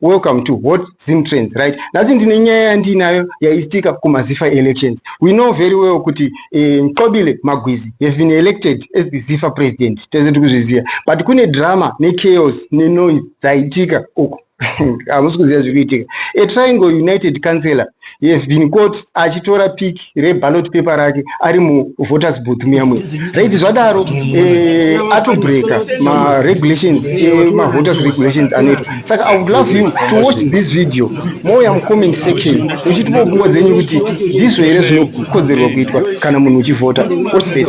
Welcome to Hot Zim Trends, right? Nhasi ndine nyaya yandinayo yaitika kumaZifa elections. We know very well kuti eh, Mxobile Magwizi have been elected as the Zifa president. Tese tiri kuzviziva. But kune drama nechaos nenoise dzaitika uko. Hamusi kuziva zviri kuitika. A Triangle United councillor he has been caught achitora pic reballot paper rake ari muvoters booth muyamwe right zvadaro eh, atobreaka maregulations eh, mavoters regulations anoitwa saka i would love him to watch this video mouya mucomment section muchitipo pfungwa dzenyu kuti ndizvo here zvinokodzerwa kuitwa kana munhu uchivhota watch this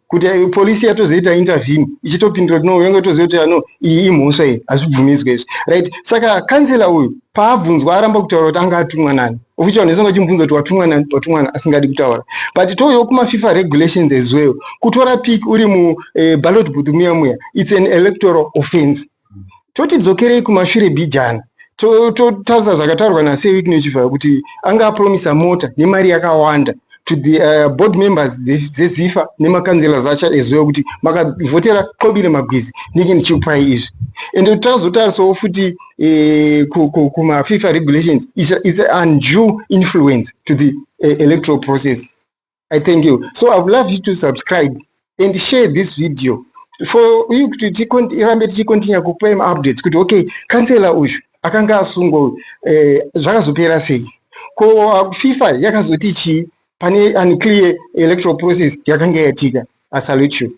kuti eh, polisi yatozoita intervene ichitopindura kuti no yanga toziva kuti ano ah, iyi imhosva iyi hazvibvumidzwe izvi right saka kansela uyu paabvunzwa aramba kutaura kuti anga atumwa nani okuti vanhu vese vachimubvunza kuti watumwa nani watumwa nani asingadi kutaura but touyawo kumafifa regulations as well kutora pic uri muballot eh, booth muya muya it's an electoral offense toti dzokerei kumashure bhijana totarisa zvakataurwa naseweek nechivhara kuti anga apromisa mota nemari yakawanda to the uh, board members dzezifa nemakanzela zacha as well kuti makavhotera qobile magwizi ndinge ndichikupai izvi ende tazotarisawo futi eh, kumafifa regulations its an due influence to the eh, electoral process i thank you so i would love you to subscribe and share this video for uyu kuti tirambe tichikontinya kupai maupdates kuti okay kansela uyu akanga asungwa uyu eh, zvakazopera sei ko uh, fifa yakazoti chii pane unclear electoral process yakanga yatika asalute you